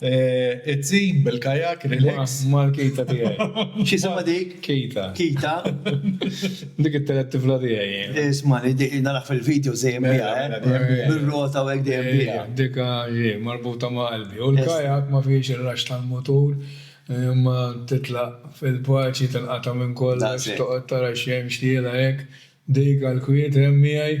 It-tim bil-kajak, relax. Mal-kita tiegħi. X'isima dik? Kita. Kita. Dik it-telet tifla tiegħi. Isma' li dik nara fil-video dejjem biha, bir-rota u hekk dejjem biha. Dik hi marbuta ma' qalbi. U l-kajak ma fihiex ir-raxx tal-mutur, imma titlaq fil-paċi, tinqata' minn kollox, toqgħod tara x'hemm, x'tiela hekk. Dik għall-kwiet hemm miegħi.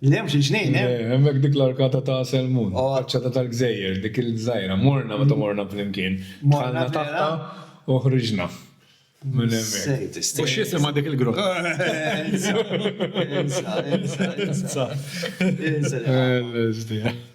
Li hemm xi ġnejn hemm. Eh, hemmhekk dik l-arkata ta' Selmun, oh. faċċata tal-gżejjer, dik il-żgħira. Morna meta morna flimkien. Morna taħta u ħriġna. Minn hemmhekk. U x'jisimha dik il-grupp? Insa, insa, insa. Insa.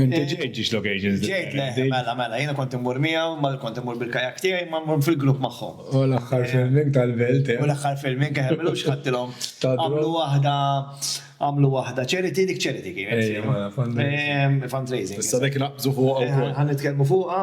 Inti ġejt ġiex locations differenti. Ġejt, le, mela, mela, jiena kont immur miegħu, ma kont immur bil-kajak tiegħi, imma mmur fil-grupp magħhom. U l-aħħar filming tal-belt, eh? U l-aħħar filming, eh, m'ilux ħadtilhom. Għamlu waħda, għamlu waħda charity, dik charity kienet. Ejja, fundraising. Fundraising. Issa dik naqbżu fuqha wkoll. Ħa nitkellmu fuqha.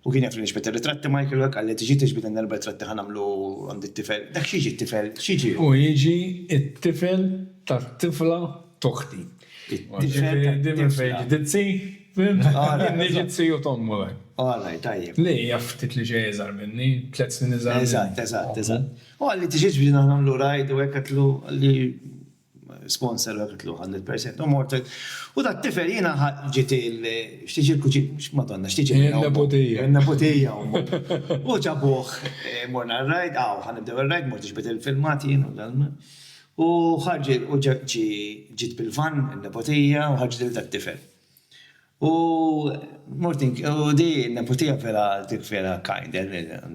U kien jaf li nixbet ir-ritratti Michael u hekk qal li tiġi tixbet għandna erba' ritratti ħa nagħmlu għand it-tifel. Dak x'jiġi t-tifel? X'jiġi hu? Hu jiġi t-tifel tat-tifla t'oħti. It-tifel tat-tifla. Jiġifieri din minn fejn ġiet it-zzi, fhimt? Jien niġi t-ziju t'ommu hekk. All right, tajjeb. Li hija ftit li xejn iżgħar minni, tliet snin iżgħar minni. Eżatt, eżatt, eżatt. U qal li tiġi tixbet aħna nagħmlu rajd u hekk, għedtlu li. sponsor għal tluq għand il-percent u mort u dat tifel jiena ġiet il xtiġi l-kuġin madonna xtiġi il-nebutija il-nebutija u ġabuh morna r-rajd għaw ħan nibdew ir-rajd mort iġbed il-filmat jien u dan u ħarġ u ġi ġiet bil-vann il-nebutija u ħarġet il dat tifel. U mort in u di n-neputija vera dik vera kind,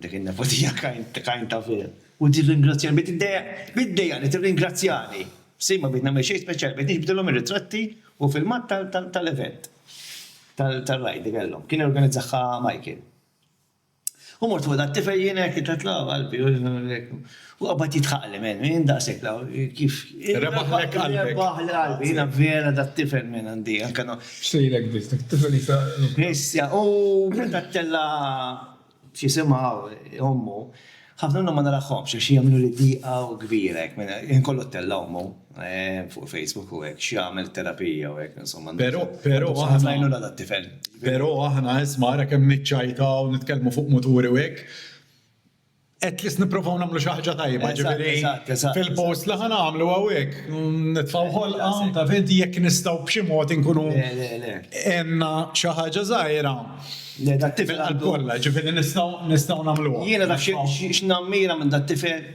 dik in-neputija kind kind ta' vera. U tirringrazzjani, bdiet iddejjaq iddejjaqni tirringrazzjani. Sin ma bdiet nagħmel xejn speċjali, bdejt niġbdilhom ir-ritratti u filmat tal tal tal-event, tal tal-raid li kellhom. Kien organizzaha Michael. U mort fuq dat-tifel jien hekk, ta' tla' qalbi, u hekk. U qabad jidħaqli, men, jien daqshekk la, kif. Rebaħlek qalbek. Rebaħli qalbi, jiena vera dat-tifel men għandi anke no. Xtejlek biss, dak it-tifel jista'. Issa, u meta ttella' x'isimha ommu, Ħafna minnhom ma narahomx għax jagħmlu li diqa u kbira hekk minn hekk. Jien kollu ttella' ommu fuq Facebook u hekk x'jagħmel terapija u hekk insomma. Però però aħna. Ħafna għajnuna tat-tifel. Però aħna isma' ara kemm niċċajtaw, nitkellmu fuq muturi u hekk, at least nipprovaw nagħmlu xi ħaġa tajba, ġifieri fil-post li ħa nagħmlu hawnhekk nitfgħu ħolqa ta' vinti jekk nistgħu b'xi mod inkunu għenna xi ħaġa żgħira. Tifel qalb kollha, jiġifieri nistgħu nagħmluha. Jiena naf x'nammira minn dat-tifel,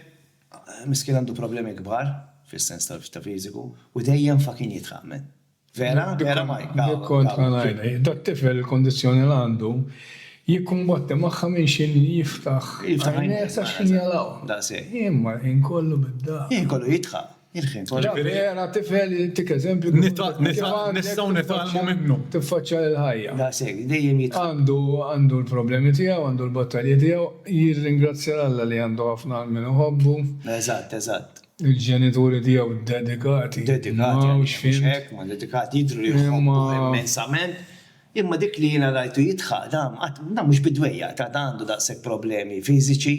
miskien għandu problemi kbar fis-sens ta' fiżiku u dejjem fa' kien jidħaq men. Vera? Vera Mike? Dik kont ħa ngħidha. Dat-tifel il-kundizzjoni li għandu jikkumbatti magħha minn x'inhi li jiftaħ għajnejh sa x'ħin jagħlaqhom. Daqshekk. Imma ħin kollu bid-dagħar. Ħin kollu jidħaq. Vera tifel jtik eżempju kif għandek nistgħu nitgħallmu minnu. Tiffaċċja l-ħajja. Daqshekk, dejjem jitfa'. Għandu għandu l-problemi tiegħu, għandu l-battalji tiegħu, jirringrazzja 'l Alla li għandu ħafna għal min iħobbu. Eżatt, eżatt. Il-ġenituri tiegħu dedikati. Dedikati għalih, mhux hekk? Ma dedikati, jidhru li jħobbu immensament. Imma dik li jiena rajtu jidħaq, dan qatt, dan mhux bid-dwejjaq ta', dan għandu daqshekk problemi fiżiċi,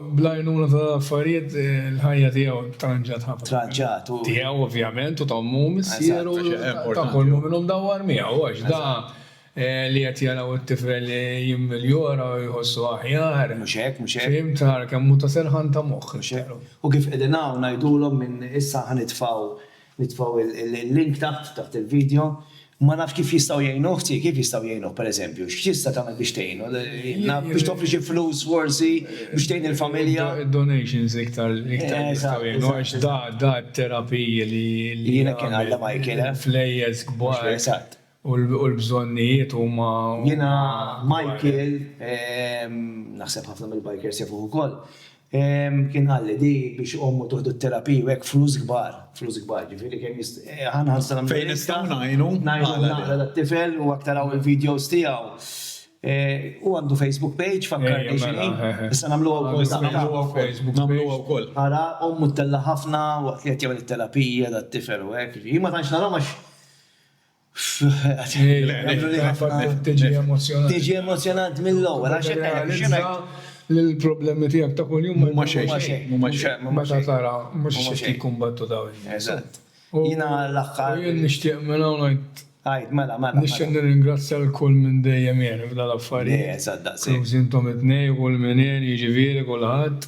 Bl-għajnuna ta' l-affarijiet il-ħajja tiegħu tranġat ħafna. Tranġat u. Tiegħu ovvjament u ta' ommu u missieru u ta' kull mu'minu mdawwar miegħu għax da li qed jaraw it-tifel jimmiljora u jħossu aħjar. Mhux hekk, mhux hekk. Fhimt, ara kemm hu ta' serħan ta' moħħ. Mhux hekk. U kif qegħdin hawn ngħidulhom minn issa ħa nitfgħu Nitfgħu l-link taħt, taħt il-video. Ma nafx kif jistgħu jgħinu, ħti, kif jistgħu jgħinuh pereżempju? X'tista' tagħmel biex tgħinu? Biex toffri xi flus forsi biex tgħin il-familja? Id-donations iktar li jistgħu jgħinu għax da, da t-terapiji li. Jiena kien Alla ma jkilha. Flejjes kbar. Eżatt. U l-bżonnijiet huma. Jiena Michael, naħseb ħafna mill-bikers jafuh ukoll, kien qalli di biex ommu tieħdu t-terapija u hekk flus kbar, flus kbar, ġifieri kemm jist. Ħa nħarsha nagħmlu. Fejn nistgħu ngħinu. Ngħinu naqra lit-tifel u hekk taraw il-videos tiegħu. Hu għandu Facebook page fakkarni x'inhi. Issa nagħmluha wkoll. Nagħmluha wkoll. Nagħmluha wkoll. Ara ommu ttella' ħafna waqt li qed jagħmel it-terapija dat-tifel u hekk. Jien ma tantx narahom għax Tiġi emozjonant. Tiġi emozjonant mill-ewwel għax hekk għalhekk xi ngħid. Li l-problemi tiegħek ta' kuljum huma xejn. Huma xejn. Meta tara mhux xejn jikkumbattu dawn in-nies. Eżatt. Jiena l-aħħar. Jien nixtieq minn hawn ngħid. Għid, mela, mela. Nixtieq nirringrazzja lil kull min dejjem jgħin f'dan l-affarijiet. Eżatt, daqshekk. Inklużi intom it-tnejn, kull min għen, jiġifieri kulħadd.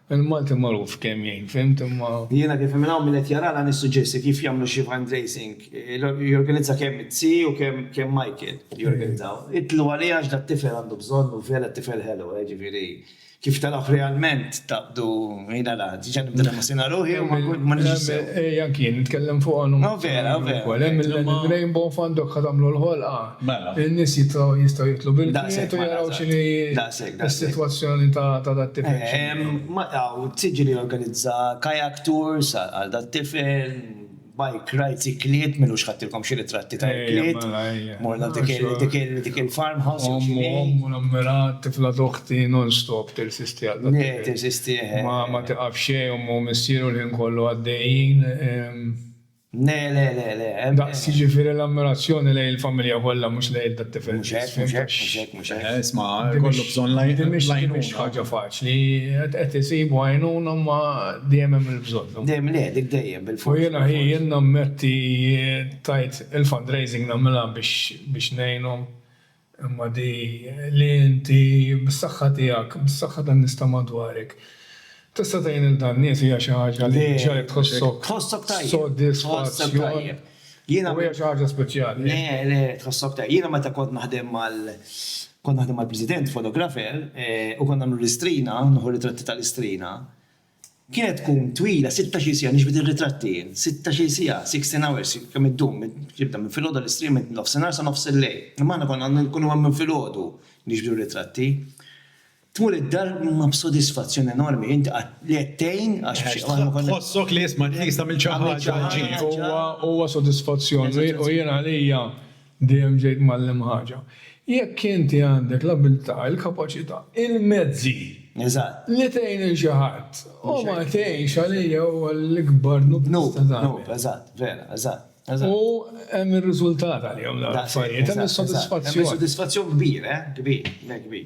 Il-Malti magħruf kemm jgħin, fhimt, imma. Jiena kif minn hawn min qed jarana nissuġġerixxi kif jagħmlu xi fundraising, jorganizza kemm it-Tsi u kemm Michael jorganizzaw. Itlu għalih għax dat-tifel għandu bżonn u vera tifel ħelu, jiġifieri kif tarah realment taqbdu jiena la, diġà nibda nemozjona ruħi u ma nkunx sew. Ej anki jien nitkellem fuqha u nħossha. Vera, vera. Ukoll hemm il-Rainbow Fund dawk ħa tagħmlu l-ħolqa. Mela. In-nies jistgħu jidħlu bil-kwiet u jaraw x'inhi. Daqshekk. Is-sitwazzjoni ta' dat-tifel x'inhi? Ma hawn tiġi li jorganizza kayak tours għal dat-tifel, bike rides, ikliet, min hux ħadtilkom xi ritratti ta' ikliet, morna dik il-farmhouse jew xi ħaġa. Ommu, ommu nagħmilha, tifla ta' oħti non stop tirsisti għal dat-tifel. Le, tirsisti, eħe. Ma tiqaf xejn, ommu u missieru l-ħin kollu għaddejjin. Le, le, le, le, emm. Daqs, jiġifieri l-ammirazzjoni lejn il-familja kollha mhux lejn tat-tifel biss. Mhux hekk, mhux hekk, mhux hekk, mhux hekk. Isma', ikollu bżonn l-għajnuna. Di mhix ħaġa faċli. Qed isibu għajnuna imma dejjem hemm il-bżonn. Dejjem le, dik dejjem, bilfors. U jiena, hi, jien nammetti, tgħid, il-fundraising nagħmilha biex ngħinhom. Imma di li inti, bis-saħħa tiegħek, bis-saħħa tan-nies ta' madwarek, tista' tgħin lil dan nies hija xi ħaġa li ġġegħlek tħossok sodisfazzjon u hija xi ħaġa speċjali. Le, le, tħossok tajjeb. Jiena meta kont naħdem mal, kont naħdem mal-President, fotografer, u kont nagħmlu l-istrina, nieħu ritratti tal-istrina, Kienet tkun twila sittax-il siegħa, niġbed ir-ritratti jien, sittax-il siegħa, sixteen hours, kemm iddum, tibda minn filgħodu għall-istrieħ minn nofsinhar sa nofs il-lejl. Imma aħna konna nkunu hemm minn filgħodu niġbdu r-ritratti. Tmur id-dar ma b'sodisfazzjon enormi, inti qatt li qed tgħin għax b'xi mod ma konna. Tħossok li isma' tliest għamilt xi ħaġa. Huwa sodisfazzjon u jien għalija Dejjem ġejt mgħallem ħaġa. Jekk inti għandek l-abiltà, il-kapaċità, il-mezzi. Eżatt. Li tgħin lil xi ħadd. U ma tgħinx għalija huwa l-ikbar dnub li tista' tagħmel. Dnub, dnub, eżatt, vera, eżatt. U hemm ir-riżultat għalihom dawn l-affarijiet, hemm is-sodisfazzjon. Hemm is-sodisfazzjon kbir, eh, kbir, kbir.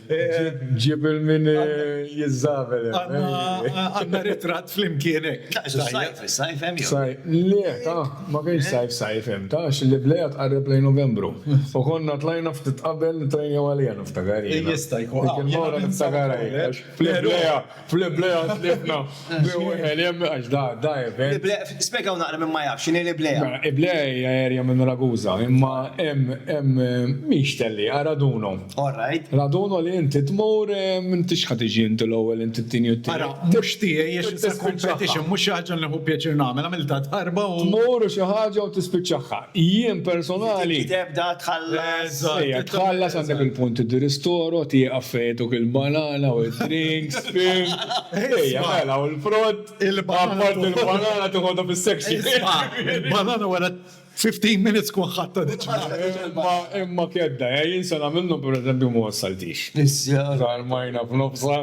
Ġib il-min jiżżabel. Għanna ritrat flimkien hekk. Sajf, sajf hemm jew? Le, ta, ma kienx sajf sajf hemm, ta, għax il-liblejja tqarreb lejn Novembru. U konna tlajna ftit qabel nitrejnew għaliha niftakar jiena. Jista' jkun. Dik il-mawra niftakarha jiena. Flimkien. Fl-Iblea tlifna bi wieħed hemm għax da da event. L-Iblea, spjegaw naqra minn ma jafx x'inhi l-Iblea. Mela, Iblea hija area minn Ragusa, imma hemm hemm mhix tellieqa, raduno. All right. Raduno li inti tmur m'intix ħa tiġi inti l-ewwel inti t-tieni u t-tielet. Ara, mhux tiegħi għax it's a competition, mhux xi ħaġa li nieħu pjaċir nagħmel, għamiltha darba u. Tmur u xi ħaġa u tispiċċaha. Jien personali. Tibda tħallas. Ejja, tħallas għandek il-punt id-ristoro, tieqaf fejtuk il-banana u d-drinks, fim. Ejja, mela, u l-frott. Il-banana. Il-banana tiħodha fis-section. Il-banana wara 15 minutes tkun ħadtha diġà. Imma kedda, jien se nagħmel minnhom pereżempju ma wassaltix. Iżda. Żarmajna f'nofsha.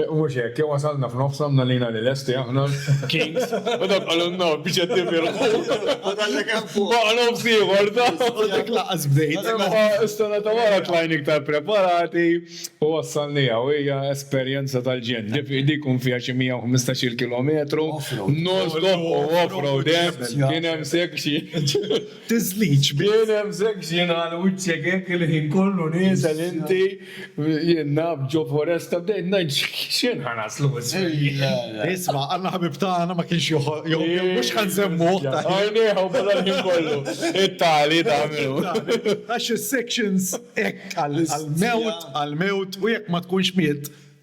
U mhux hekk, jew wasalna f'nofs għamlna lina li lesti aħna kings u dawk qalulna no biex qed nifirħu. U kellek hemm fuq. Baqa' nofs ieħor ta'. U dak lanqas bdejt. Imma s-sena ta' wara tlajna iktar preparati u wassalniha u hija esperjenza tal-ġenn. Dik ikun fiha xi 115-il kilometru non-stop u off-road hemm, kien hemm sekk xi. Tiżlix bih. Nefsek xi ngħal wiċċek hekk il-ħin kollu nieżel inti, jien naf ġo foresta bdejt ngħid x'ħin ħa naslu isfel jien. Isma' Alla ħabib tagħna ma kienx joħob jew mhux ħa nsemmuh ta' ħin. Għajnejh u beda l-ħin kollu. It-tali ta' min hu. Għax is-sections hekk għall-mewt għall-mewt u jekk ma tkunx miet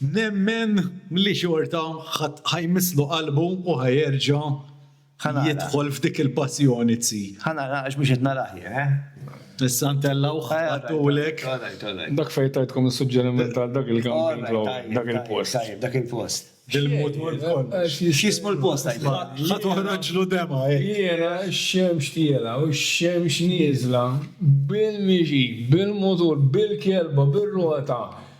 nemmen li xorta ħa jmisslu qalbu u ħa jerġa' jidħol f'dik il-passjoni tsi. Ħa nara għax mhux qed narah jien, eh. Issa ntellgħuh għaddulek. Dak fejn tajtkom is-suġġeriment għal dak il-camping law, dak il-post. Tajjeb, dak il-post. Bil-mutur kollox. X'jismu l-post għidlek? Ħa toħroġlu demgħa hekk. Jiena x-xemx tiela' u x-xemx nieżla bil-mixi, bil-mutur, bil-kelba, bir-rota,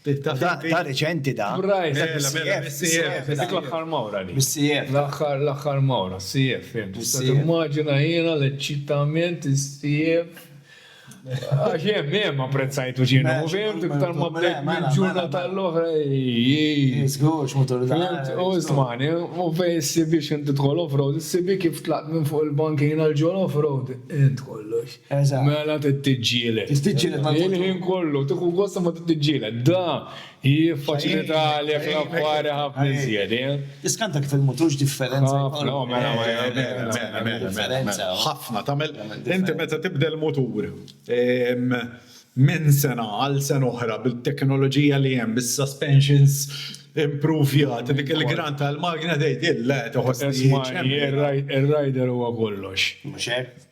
Da reċenti da. Brajt. Bis-CF. Dik l-aħħar mawra li. Bis-CF. L-aħħar l-aħħar mawra, CF. Immaġina jiena l-eċċitament is-CF. Għax hemm hemm apprezzajtu ġienu, fimt, iktar ma bdejt minn ġurna tal-oħra. Żgur, x'mutur Fimt, u stmani, u fej s-sibi x'inti tħol off-road, s-sibi kif tlaqt minn fuq il-bankina l-ġol off-road, int kollox. Eżatt. Mela tittiġġieled. Tittiġġieled ma' Il-ħin kollu, tieħu gost imma tittiġġieled. Da jiffaċilita għalek l-affari ħafna iżjed, eh? Tiskanta kif il-mutur x'differenza jkollu. Ħafna, mela, mela, mela, mela, mela, mela. Ħafna, tagħmel inti meta tibdel mutur minn sena għal sena oħra bit-teknoloġija li hemm, bis-suspensions impruvjati, dik il-gran tal-magna tgħid, le, toħoss li. Isma', ir-rider huwa kollox. Mhux hekk?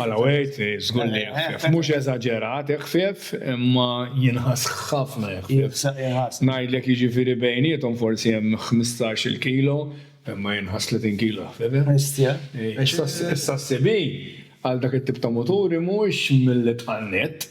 Malaweit, żgur li eħfef. Mhux eżaġerat eħfef, imma jinħass ħafna eħfef. Ngħidlek jiġifieri bejniethom forsi hemm ħmistax-il kilo, imma jinħass tletin kilo eħfef. Bestia. Issa s-CB għal dak it-tip ta' muturi mhuwiex mill-itqal nett.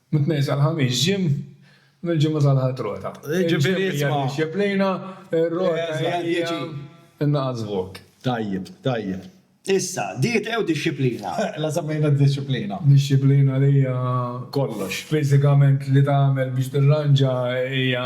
Mit-Tnejn sal-Ħamis gym, mill-Ġimgħa sal-Ħadd rota. Jiġifieri isma'. Id-dixxiplina, ir-rota hija naqas vot. Tajjeb, tajjeb. Issa, dieta jew dixxiplina? La semmejna d-dixxiplina. Dixxiplina li hija. Kollox. Fiżikament li tagħmel biex tirranġa hija.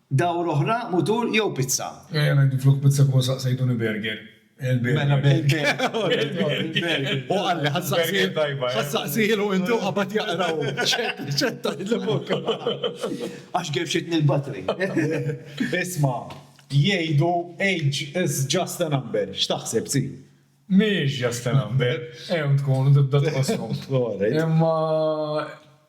Dawra oħra, mutur jew pizza? Ejja ngħidu flok pizza kieku saqsejtuni burger. Mela burger. Hu qalli ħa ssaqsilu inti u qabad jaqra hu. Ċetta li fuq. Għax gefxitni l-batri. Isma', jgħidu age is just a number. X'taħseb, Zii? Mhix ġasta number, hemm tkun u tibda tqosshom. Imma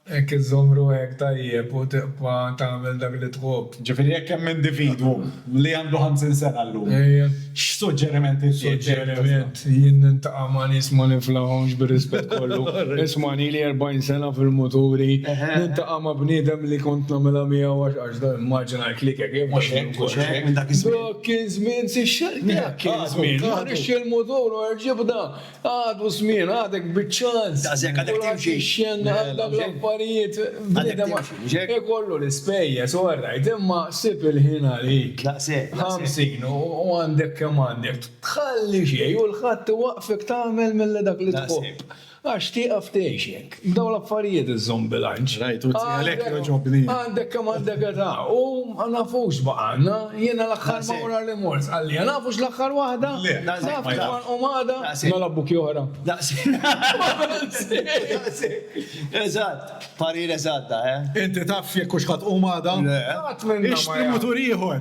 jekk iżżomm ruħek tajjeb u tibqa' tagħmel dak li tħobb. Ġifieri jekk hemm individwu li għandu ħamsin sena llum, x'suġġeriment irċiev? Suġġeriment, jien niltaqa' ma' nies ma niflahomx bir-rispett kollu. Isma' nili erbgħin sena fil-muturi, niltaqa' ma' bniedem li kont nagħmilha miegħu għax Marginal clicker, jien mhux hekk, mhux hekk minn dak iż-żmien. Dak kien żmien si xejn. Minn dak kien żmien. Ma rridx il-mutur u l-ġibda. Għadu żmien, għadek biċ-ċans. Daqshekk għadek timxi. Għal dawn l-affarijiet bniedem ikollu l-ispejjeż, all right, imma sib il-ħin għalik. Daqshekk. Ħamsin u għandek kemm għandek. Tħalli xejn u l-ħadd iwaqqfek tagħmel milli dak li tħobb. Għax tieqaf tgħix jekk. B'dawn l-affarijiet iżżomm bilanċ. Rajt, u għalhekk jogħġobni. Għandek kemm għandek età u ma nafux baqgħa għandna. Jiena l-aħħar mawra li mort qalliha, nafux l-aħħar waħda? Le, naf kif għanqom għada. Mela buki oħra. Daqshekk. Eżatt. Parir eżatt dan, eh? Inti taf jekk hux ħa tqum għada? Le. Qatt minna ma jaf. Ixtri mutur ieħor.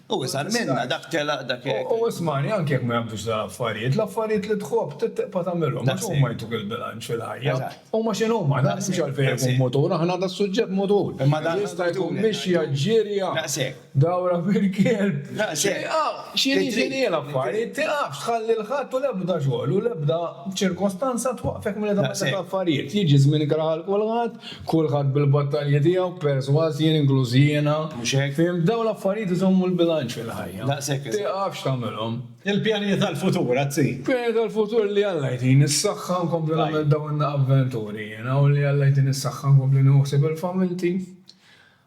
U iżgħar minna, dak telaq, dak għeġġ. U ismagħni, anki jekk ma jaqbdux dal-affarijiet, l-affarijiet li tħobb trid tibqa' tagħmilhom, għax huma jtuk il-bilanċ fil-ħajja. Huma x'inhuma, dan m'hemmx għalfejn ikun mutur, aħna għad suġġett mutur. Jista' jkun mixja, ġirja, dawra bil-kelb, xi, ah, x'inhi x'inhi l-affarijiet, tilgħabx, tħalli l-ħadd u l-ebda xogħol u l-ebda ċirkostanza twaqqfek milli tagħmel dak l-affarijiet. Jiġi żmien ikrah għal kulħadd Kulħadd bil-battalji tiegħu, persważ jien inkluż jiena. Mhux hekk? Fhimt? Dawn l-affarijiet iżommu l-bilanċ fil-ħajja. Daqshekk eżatt. Tiqafx tagħmilhom. Il-pjanijiet għall-futur, Azz. Pjanijiet għall-futur li Alla jtini s-saħħa nkompli nagħmel dawn avventuri jiena u li Alla jtini s-saħħa nkompli nieħu ħsieb il-familti.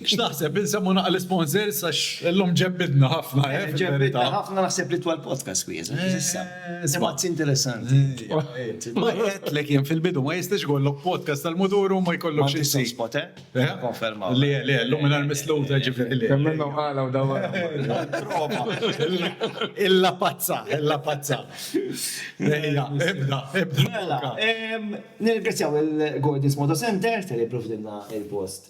X'taħseb, insemmhu naqra l-isponsors għax illum ġebbidna ħafna, eh, fil-verità. Ġebbidna ħafna naħseb li twal podcast kwieza, issa. Spazji interessanti. Ma għedtlek jien fil-bidu ma jistax ikollok podcast tal-mudur u ma jkollokx xi sejn. Spot, eh? Konferma. Le, le, llum minn misluta ġifieri le. Kemm minnhom qala u dawa. Illa pazza, illa pazza. Ejja, ibda, ibda. Mela, nirgrazzjaw il-Gordon's Moto Center tal-li provdilna il-post.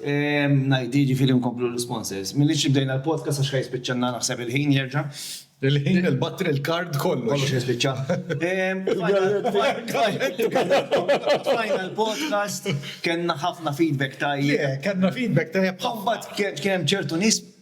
ngħid jiġifieri nkomplu l-isponsors. Minix li bdejna l-podcast għax ħa jispiċċanna naħseb il-ħin jerġa'. Il-ħin, il-battery, il-card, kollox. Kollox ħa jispiċċa. Bdejna l-podcast, kellna ħafna feedback tajjeb. Kellna feedback tajjeb. Imbagħad kien hemm ċertu nies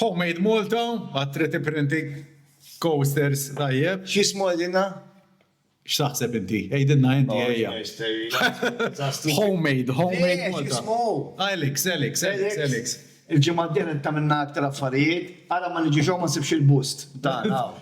Homemade Malta, għad trid ipprinti coasters tajjeb. Xi jismu għalina? X'taħseb inti? Għidilna inti ejja. Homemade, homemade Malta. Elix, Elix, Elix, Elix. Il-ġimgħa d-dieħla tagħmilna aktar affarijiet, ara ma niġix hawn ma nsibx il-bust tagħna hawn.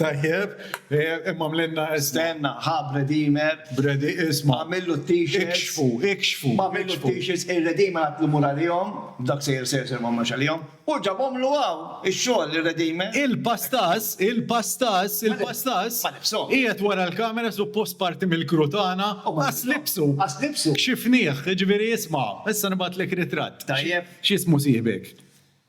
Tajjeb, imma mlenna estenna, ħa Bredimer. Bredi, isma. Għamillu t-t-shirts. Ikxfu, ikxfu. Għamillu t-t-shirts, ir-Redimer għatlu mur għalihom, dak sejjer sejjer sejjer ma marx għalihom, u ġabhomlu hawn, ix-xogħol ir-Redimer. Il-Pastas, il-Pastas, il-Pastas. Ma libshomx. Qiegħed wara l-kamera suppost parti mill-crew tagħna, qas libsu. Qas libsu. Kxifnieh, jiġifieri isma', issa nibgħatlek ritratt. Tajjeb. X'jismu sieħbek?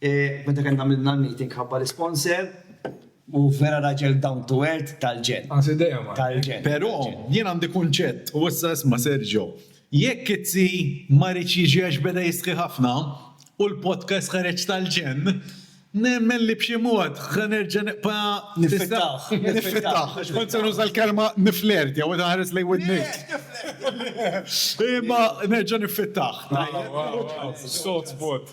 Meta kellna għamilna l-meeting ħabba l-isponsor u vera raġel down to earth tal-ġenn. Qas idejhom għalhekk. Tal-ġenn. Però jien għandi kunċett, u issa isma' Sergio, jekk it-T ma riedx jiġi għax beda jistħi ħafna u l-podcast ħareġ tal-ġenn, nemmen li b'xi mod ħa nerġa' nibqa' Niffittah. Niffittah. Għax kont se nuża l-kelma nifflirtja u qed inħares lejn widnejk. Imma nerġa' niffittah. Sot spot.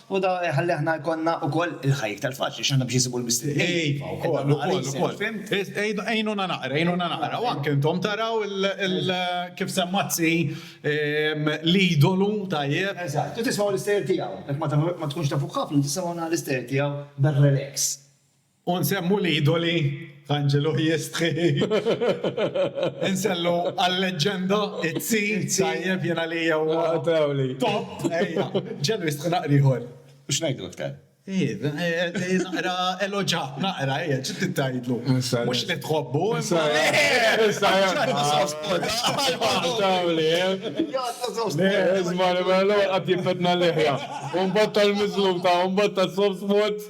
U dan iħalli aħna jkollna wkoll il-ħajja iktar faċli, għax aħna biex insibu l-mistednin. Iva, wkoll, wkoll, wkoll. Fhimt? Għinuna naqra, għinuna naqra. U anke intom taraw il, kif semma t-zzi, l-idolu, tajjeb? Eżatt. U tismgħu l-istejjer tiegħu. Jekk ma tkunx tafuh ħafna, tisimgħu naqra l-istejjer tiegħu bir-relax. U nsemmu l-idoli Anġelu jistħi. Insellu għal-leġġenda Izzi, tajjeb jien għalija huwa. Trawli. Top, ejja. Ġelu jistħi naqra ieħor. U x'ngħidlu t-tqal? Ejja, naqra eloġa, naqra, ejja, xi trid tgħidlu? Mhux li tħobbu, imma. Trawli, eh? Isma' li mela l-ewwel qatt jifetna l-leħja. U mbagħad tal-miżlum ta' u mbagħad tas-soft spots.